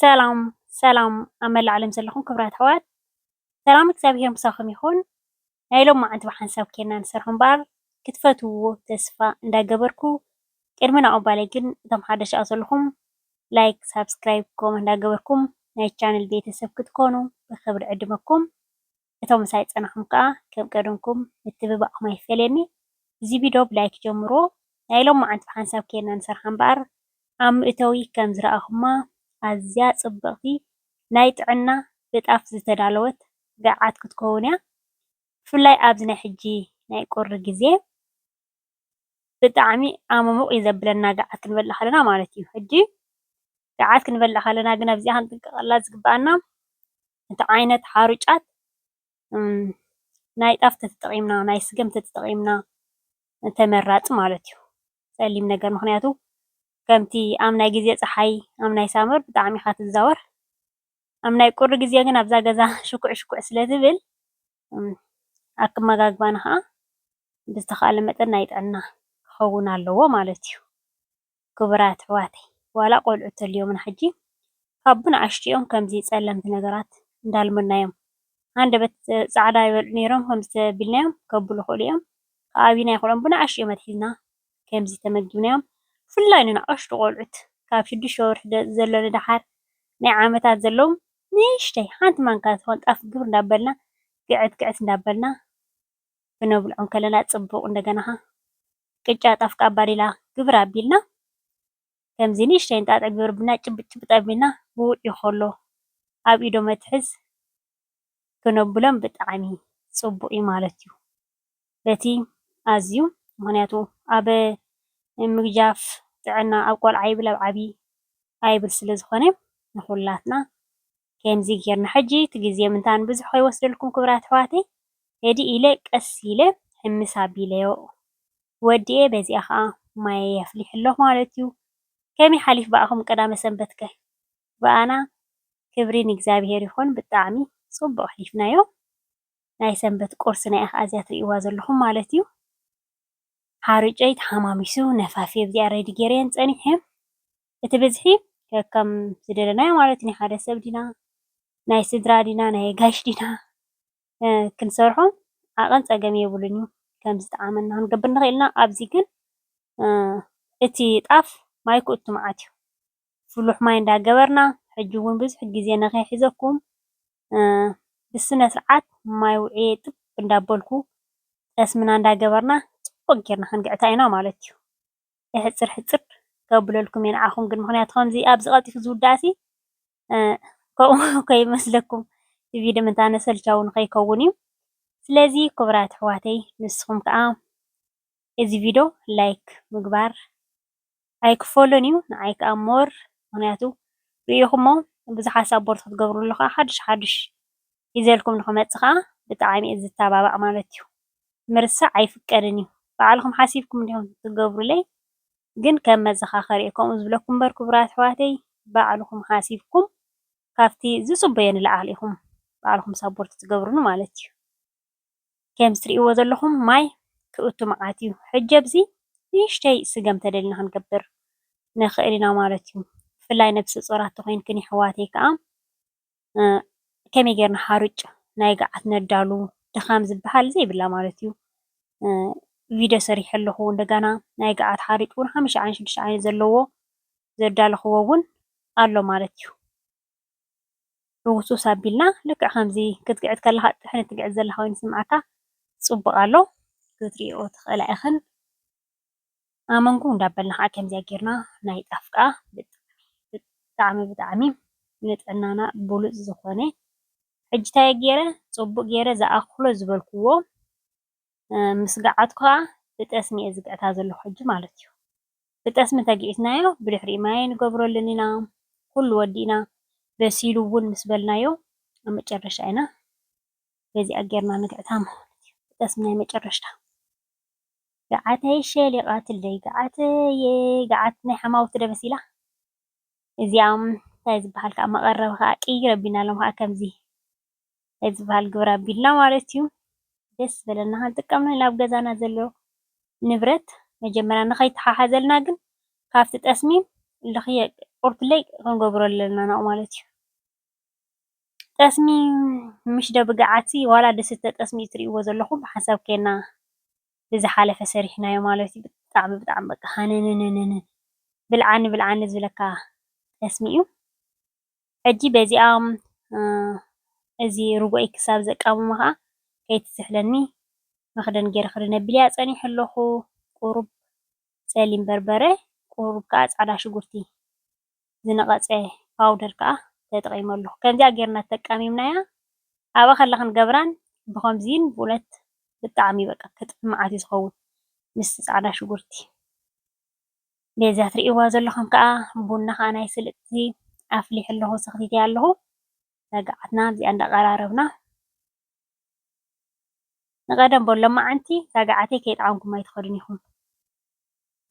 ሰላም ሰላም ኣብ መላእ ዓለም ዘለኹም ክብራት ኣሕዋት ሰላም እግዚኣብሔር ምሳኹም ይኹን። ናይ ሎም መዓንቲ ብሓንሳብ ኬና ንሰርሖ እምበኣር ክትፈትውዎ ተስፋ እንዳገበርኩ ቅድሚ ናብኡ ባለይ ግን እቶም ሓደሽ ኣብ ዘለኹም ላይክ ሳብስክራይብ ኮመንት እንዳገበርኩም ናይ ቻነል ቤተሰብ ክትኮኑ ብክብሪ ዕድመኩም። እቶም ምሳይ ዝጸናኩም ከኣ ከም ቀደምኩም ምትብባዕኩም ኣይፈለየኒ እዚ ቪዶ ብላይክ ጀምርዎ ናይ ሎማዓንቲ ብሓንሳብ ኬና ንሰርሓ እምበኣር ኣብ ምእተዊ ከም ዝረኣኩማ ኣዝያ ጽብቅቲ ናይ ጥዕና ብጣፍ ዝተዳለወት ገዓት ክትከውን እያ ብፍላይ ኣብዚ ናይ ሕጂ ናይ ቁሪ ግዜ ብጣዕሚ ኣመሙቅ እዩ ዘብለና ገዓት ክንበልዕ ከለና ማለት እዩ ሕጂ ገዓት ክንበልዕ ከለና ግን ኣብዚኣ ክንጥንቀቀላ ዝግበኣና እቲ ዓይነት ሓሩጫት ናይ ጣፍ ተተጠቒምና ናይ ስገም ተተጠቒምና ተመራፂ ማለት እዩ፡፡ ፀሊም ነገር ምኽንያቱ ከምቲ ኣብ ናይ ግዜ ፀሓይ ኣብ ናይ ሳመር ብጣዕሚ ኢኻ ትዛወር ኣብ ናይ ቁሪ ግዜ ግን ኣብዛ ገዛ ሽኩዕ ሽኩዕ ስለ ትብል ኣክመጋግባና ኸዓ ብዝተኻእለ መጠን ናይ ጥዕና ክኸውን ኣለዎ ማለት እዩ፡፡ ክቡራት ኣሕዋተይ ዋላ ቆልዑ ተልዮምና ሕጂ ካብ ብንኣሽቱኦም ከምዚ ጸለምቲ ነገራት እንዳልመድናዮም ሃንደበት ጻዕዳ ይበልዑ ኔሮም ከምዚ ተቢልናዮም ከብሉ ይክእሉ እዮም ክኣብዩና ይክእሉ እዮም ብንኣሽቱኦም ኣትሒዝና ከምዚ ተመጊብናዮም ብፍላይ ንንኣሽቱ ቆልዑት ካብ ሽዱሽተ ወርሒ ዘሎ ንደሓር ናይ ዓመታት ዘለዉ ንእሽተይ ሓንቲ ማንካ ትኮን ጣፍ ግብር እንዳበልና ግዕት ግዕት እንዳበልና ክነብልዖ ከለና ፅቡቅ እንደገና ከኣ ቅጫ ጣፍ ከኣ ኣባዲላ ግብር ኣቢልና ከምዚ ንእሽተይ እንጣጢዕ ግብር ኣቢልና ጭብጥ ጭብጥ ኣቢልና ብውዒ ከሎ ኣብ ኢዶ መትሐዝ ክነብሎም ብጣዕሚ ፅቡቅ እዩ ማለት እዩ። በቲ ኣዝዩ ምክንያቱ ኣብ ምግጃፍ ጥዕና ኣብ ቆልዓ ይብል ኣብ ዓብይ ኣይብል ስለዝኮነ ንኩላትና ከምዚ ጌርና ሕጂ እቲ ግዜ ምእንታን ንብዙሕ ከይወስደልኩም ክብራት ኣሕዋተይ ቴዲ ኢለ ቀስ ኢለ ሕምስ ኣቢለዮ ወዲኤ በዚኣ ከኣ ማየይ ኣፍሊሐ ኣለኩ ማለት እዩ ከመይ ሓሊፍ ብኣኹም ቀዳመ ሰንበት ከ ብኣና ክብሪ ንእግዚኣብሄር ይኹን ብጣዕሚ ጽቡቅ ኣሕሊፍናዮ ናይ ሰንበት ቁርስና ኢያ ከኣ እዚኣ ትሪእዋ ዘለኹም ማለት እዩ ሓሩጨይ ተሓማሚሱ ነፋፌ ብዚኣ ረዲ ጌረየን ጸኒሐ። እቲ ብዝሒ ከከም ዝደለናዮ ማለት ናይ ሓደ ሰብ ድና ናይ ስድራ ድና ናይ ኣጋይሽ ድና ክንሰርሖ ዓቐን ጸገም የብሉን እዩ ከም ዝጠዓመና ክንገብር ንኽእል ኢና ኣብዚ ግን እቲ ጣፍ ማይ ክእቱ መዓት እዩ ፍሉሕ ማይ እንዳገበርና ሕጂ እውን ብዙሕ ግዜ ንኸይሕዘኩም ብስነ ስርዓት ማይ ውዕየ ጥብ እንዳበልኩ ጠስምና እንዳገበርና ፅቡቕ ጌርና ክንግዕታ ኢና ማለት እዩ። ሕጽር ሕጽር ከብለልኩም እየ ንዓኹም ግን ምኽንያቱ ከምዚ ኣብዚ ቀልጢፉ ዝውዳእሲ ከምኡ ከይመስለኩም ቪድዮ ምንታነ ሰልቻዊ ንኸይከውን እዩ ስለዚ ክቡራት ኣሕዋተይ ንስኹም ከዓ እዚ ቪድዮ ላይክ ምግባር ኣይክፈሎን እዩ ንዓይ ከዓ ሞር ምኽንያቱ ርኢኹሞ ብዙሓት ሳፖርት ክትገብርሉ ከዓ ሓድሽ ሓድሽ ሒዘልኩም ንክመፅእ ከዓ ብጣዕሚ እዩ ዝታባባዕ ማለት እዩ ምርሳዕ ኣይፍቀድን እዩ ባዕልኩም ሓሲብኩም እንዲኩም ትገብሩለይ ግን ከም መዘካከሪ እየ ከምኡ ዝብለኩም እምበር ክቡራት ኣሕዋተይ ባዕልኩም ሓሲብኩም ካብቲ ዝፅበዮ ንላዕሊ ኢኩም ባዕልኩም ሳቦርት ትገብሩኒ ማለት እዩ ከምዚ ትሪእዎ ዘለኩም ማይ ክእቱ መዓት እዩ ሕጂ ኣብዚ ንእሽተይ ስገም ተደሊና ክንገብር ንክእል ኢና ማለት እዩ ብፍላይ ነብሰፆራት ተኮይንክን የሕዋተይ ከዓ ከመይ ጌርና ሓሩጭ ናይ ገዓት ነዳሉ ድኻም ዝበሃል ዘይብላ ማለት እዩ። ቪድዮ ሰሪሐ ኣለኹ እንደገና ናይ ገዓት ሓሩጭ እውን ሓሙሽተ ዓይነት ሽዱሽተ ዓይነት ዘለዎ ዘዳለኽዎ እውን ኣሎ ማለት እዩ። ህውስውስ ኣቢልና ልክዕ ከምዚ ክትግዕት ከለኻ ጥሕኒ ትግዕት ዘለኻ ኮይኑ ዝስምዓካ ፅቡቕ ኣሎ ክትሪኦ ትኽእላ ኢኽን። ኣመንኩ እንዳበልና ከኣ ከምዚኣ ጌርና ናይ ጣፍ ከኣ ብጣዕሚ ብጣዕሚ ንጥዕናና ብሉጽ ዝኾነ ሕጂ እንታይ ጌረ ጽቡቅ ጌረ ዝኣክሎ ዝበልክዎ ምስ ገዓት ከኣ ብጠስሚ እየ ዝግዕታ ዘለኩ ሕጂ ማለት እዩ ብጠስሚ ተጊዕትናዮ ብድሕሪኡ ማይ ኣይንገብረሉን ኢና ኩሉ ወዲእና በሲሉ ውን ምስ በልናዮ ኣብ መጨረሻ ኢና በዚኣ ጌርና ንግዕታ ማለት እዩ ብጠስሚ ናይ መጨረሽታ። ገዓተይ ሸሊቓትለይ ገዓተየ ገዓት ናይ ሓማውቲ ዶ መሲላ እዚኣም ታይ ዝበሃል ከዓ መቐረቢ ከዓ ቅይር ኣቢልናሎም ከዓ ከምዚ ታይ ዝበሃል ግብሪ ኣቢልና ማለት እዩ ደስ ዝበለና ክንጥቀም ንኽእል ኣብ ገዛና ዘሎ ንብረት መጀመርያ ንኸይተሓሓዘልና ግን ካብቲ ጠስሚ ልኽየ ቁርብለይ ክንገብሮ ኣለና ማለት እዩ። ጠስሚ ምሽ ዶ ብግዓት ዋላ ድስተ ጠስሚ እዩ ትሪእዎ ዘለኩም ሓንሳብ ኬና ብዝሓለፈ ሰሪሕናዮ ማለት እዩ ብጣዕሚ ብጣዕሚ በቃ ሃነነነነነ ብልዓኒ ብልዓኒ ዝብለካ ጠስሚ እዩ ሕጂ በዚኣ እዚ ርጎኣይ ክሳብ ዘቃምሞ ከዓ ከይትዝሕለኒ መኽደን ገይረ ክድነ ኣቢለያ ፀኒሐ ኣለኹ ቁሩብ ፀሊም በርበረ ቁሩብ ከዓ ፃዕዳ ሽጉርቲ ዝነቐጸ ፓውደር ከኣ ተጠቒመሉ። ከምዚኣ ጌርና ተጠቃሚምናያ ኣብኣ ከላ ክንገብራን ብኸምዚን ብኡነት ብጣዕሚ በቃ ክጥዕም መዓት እዩ ዝኸውን ምስቲ ጻዕዳ ሽጉርቲ። በዛ ትርእይዋ ዘለኹም ከኣ ቡና ከኣ ናይ ስልጥቲ ኣፍሊሐ ኣለኹ ሰኽቲተያ ኣለኹ። ሰጋዓትና ኣብዚኣ እንዳቐራረብና ንቀደም በሎ ሎማዓንቲ ጋግዓተይ ከይጠዓምኩም ኣይትኸዱን ኢኹም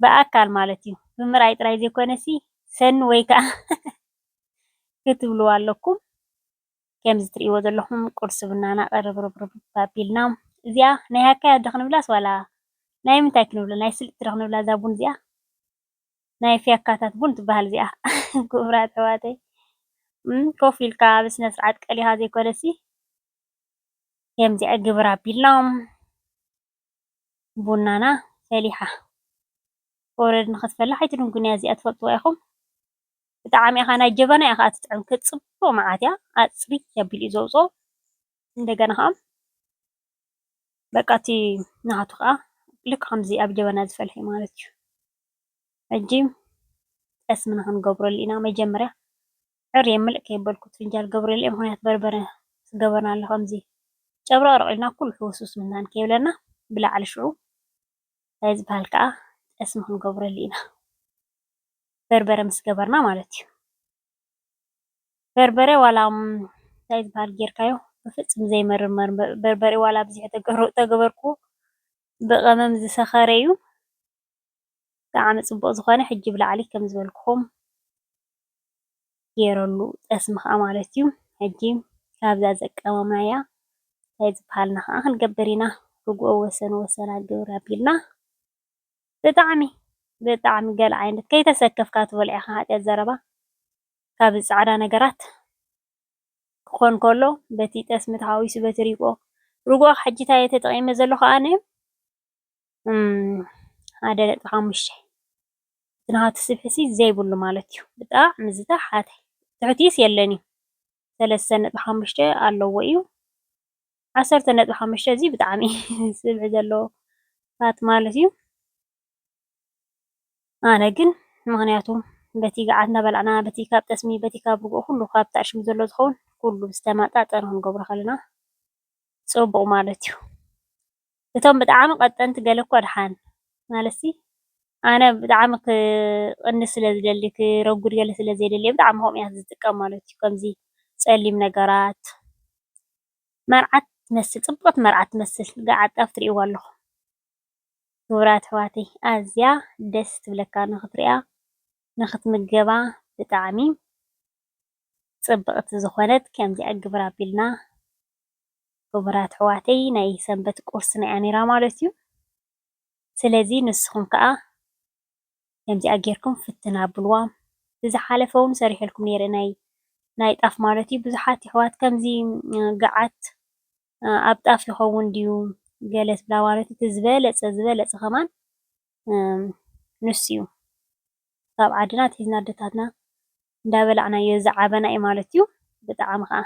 ብኣካል ማለት እዩ ብምርኣይ ጥራይ ዘይኮነሲ ሰኒ ወይ ከኣ ክትብልዋ ኣለኩም ከምዚ ትርእይዎ ዘለኹም ቁርሲ ቡናና ቅርብርብርብ ኣቢልና እዚኣ ናይ ሃካያት ዶ ክንብላስ ዋላ ናይ ምንታይ ክንብላ ናይ ስልጥቲ ዶ ክንብላ እዛ ቡን እዚኣ ናይ ፍያካታት ቡን ትበሃል እዚኣ ኩቡራት ኣሕዋተይ ኮፍ ኢልካ ብስነ ስርዓት ቀሊካ ዘይኮነሲ ከምዚኣ ግብር ኣቢሎም ቡናና ፈሊሓ ኦረዲ ንክትፈላሕ ኣይትድንጉን እያ እዚኣ ትፈልጥዋ ኢኩም ብጣዕሚ ኢካ ናይ ጀበና ኢያ ከኣ ትጥዕም ክትጽብቅ መዓት እያ ኣጽርይ ኣቢሉ እዩ ዘውጽኦ እንደገና ከኣ በቃ እቲ ናሃቱ ከኣ ልክዕ ከምዚ ኣብ ጀበና ዝፈልሐ ማለት እዩ። ሕጂ ጠስሚ ንክንገብረሉ ኢና መጀመርያ ዕርየ ምልእ ከየበልኩ እቲ ፍንጃል ክገብረሉ እየ ምክንያቱ በርበረ ምስ ገበርናሉ ከምዚ ጨብረቅረቅ ኢልና ኩሉ ሕውስውስ ምናን ከይብለና ብላዕሊ ሽዑ እንታይ ዝባሃል ከኣ ጠስሚ ክንገብረሉ ኢና በርበረ ምስ ገበርና ማለት እዩ። በርበረ ዋላ እንታይ ዝባሃል ጌርካዮ ብፍጽም ዘይመርር በርበረ ዋላ ኣብዚሐ ተገበርክዎ ብቀመም ዝሰከረ እዩ ብጣዕሚ ጽቡቅ ዝኮነ ሕጂ ብላዕሊ ከም ዝበልኩኩም ጌረሉ ጠስሚ ከኣ ማለት እዩ ሕጂ ካብዛ ዘቀመምናያ እንታይ ዝባሃል ንከኣ ክንገብር ኢና ርግኦ ወሰን ወሰና ግብር ኣቢልና። ብጣዕሚ ብጣዕሚ ገለ ዓይነት ከይተሰከፍካ ትበልዖ ኢካ ሓጥያት ዘረባ ካብ እዚ ጻዕዳ ነገራት ክኮን ከሎ በቲ ጠስሚ ተሓዊሱ በቲ ሪጎኦ ርጎኦ ሕጂ ታይ እየ ተጠቂመ ዘለኩ ኣነ ሓደ ነጥቢ ሓሙሽተ እቲ ናሃቱ ስብሒ ሲ ዘይብሉ ማለት እዩ ብጣዕሚ ዝተሓተ ትሑት ስ የለን እዩ። ሰለስተ ነጥቢ ሓሙሽተ ኣለዎ እዩ። ዓሰርተ ነጥቢ ሓሙሽተ እዚ ብጣዕሚ ስብሒ ዘለዎ ፋት ማለት እዩ። ኣነ ግን ምክንያቱ በቲ ገዓት እናበላዕና በቲ ካብ ጠስሚ በቲ ካብ ርግኦ ኩሉ ካብ ተዕሽሙ ዘሎ ዝኸውን ኩሉ ዝተመጣጠነ ክንገብሮ ከለና ፅቡቕ ማለት እዩ። እቶም ብጣዕሚ ቀጠንቲ ገለ እኮ ድሓን ማለትሲ ኣነ ብጣዕሚ ክቅንስ ስለ ዝደሊ ክረጉድ ገለ ስለ ዘይደሊ ብጣዕሚ ከምኡ እያ ዝጥቀም ማለት እዩ ከምዚ ጸሊም ነገራት መርዓት ትመስል ጽብቅቲ መርዓት ትመስል ገዓት ጣፍ ትሪኢዋ ኣለኹም ክቡራት ኣሕዋተይ ኣዝያ ደስ ትብለካ ንኽትሪኣ ንኽትምገባ ብጣዕሚ ጽብቅቲ ዝኾነት ከምዚኣ ግብር ኣቢልና። ክቡራት ኣሕዋተይ ናይ ሰንበት ቁርሲ ናይ ኣሚራ ማለት እዩ ስለዚ ንስኩም ከኣ ከምዚኣ ጌርኩም ፍትን ኣብልዋ ብዝሓለፈ ውን ሰሪሐልኩም ኔረ ናይ ናይ ጣፍ ማለት እዩ ብዙሓት የሕዋት ከምዚ ገዓት ኣብ ጣፍ ይከውን ድዩ ገለ ትብላ ማለት እቲ ዝበለጸ ዝበለጸ ከማን ንሱ እዩ ካብ ዓድና ኣትሒዝና ኣደታትና እንዳበላዕናዮ ዝዓበና እዩ ማለት እዩ ብጣዕሚ ከኣ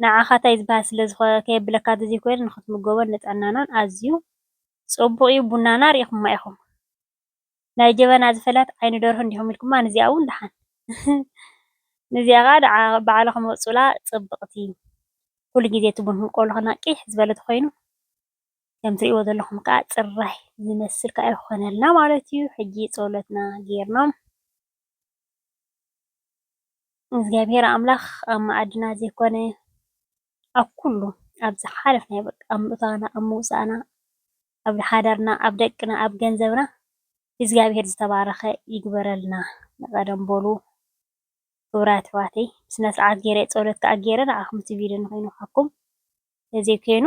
ንዓኻ ታይ ዝባሃል ስለ ዝኾነ ከየብለካ ተዘይኮይኑ ንኽትምገቦን ንጥዕናናን ኣዝዩ ጹቡቅ ዩ ቡናና ሪኢኹማ ኢኹም ናይ ጀበና ዝፈለሐት ዓይኒ ደርሆ እንዲኹም ኢልኩማ ንዚኣ ውን ዳሓን ንዚኣ ካኣ ባዕልኹም ምቅጹላ ጽብቅቲ ኩሉ ግዜ እቲ ቡንኩም ቆልኹና ቂሕ ዝበለ ተኾይኑ ከም ትሪእዎ ዘለኹም ካኣ ጽራይ ዝመስል ካኣ ይኾነልና ማለት ዩ ሕጂ ጸሎትና ጌርና እግዚኣብሔር ኣምላክ ኣብ መኣድና ዘይኮነ ኣብ ኩሉ ኣብ ዝሓለፍናዮ በቃ ኣብ ምእታውና ኣብ ምውፃእና ኣብ ሓዳርና ኣብ ደቅና ኣብ ገንዘብና እግዚኣብሔር ዝተባረከ ይግበረልና ንቀደም በሉ ክብራት ኣሕዋተይ ብስነ ስርዓት ገይረ ፀሎት ከዓ ገይረ ንዓኩም እቲ ቪድዮ ኮይኑ ንዓኩም ተዘይኮይኑ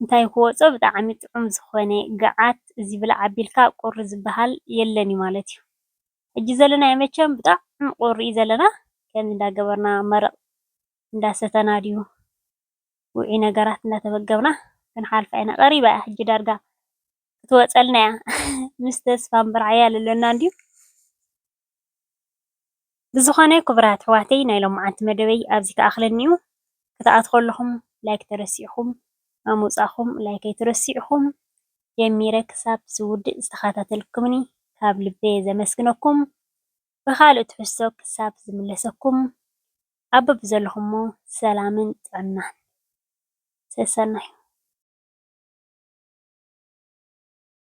እንታይ ክወፆ ብጣዕሚ ጥዑም ዝኮነ ጋዓት እዚ ብላዕ ኣቢልካ ቁሪ ዝባሃል የለን እዩ ማለት እዩ ሕጂ ዘለናዮ መቸም ብጣዕሚ ቁሪ እዩ ዘለና ከምዚ እንዳገበርና መረቅ እንዳሰተና ድዩ ውዑይ ነገራት እንዳተመገብና ክንሓልፋ ኢና ቀሪባ እያ ሕጂ ዳርጋ ክትወፀልና እያ ምስ ተስፋን ብርዕን ኣለና እንድዩ። ብዝኾነ ክቡራት ኣሕዋተይ ናይ ሎምዓንቲ መደበይ ኣብዚ ክኣኽለኒ ዩ። ክትኣትዉ ከለኹም ላይክ ተረሲዕኩም ኣብ ምውጻእኩም ላይክ ኣይትረስዕኩም ጀሚረ ክሳብ ዝውድእ ዝተኸታተልኩምኒ ካብ ልበየ ዘመስግነኩም ብኻልእ ትሕዝቶ ክሳብ ዝምለሰኩም ኣብ በብዘለኹሞ ሰላምን ጥዕናን ሰሰናዩ።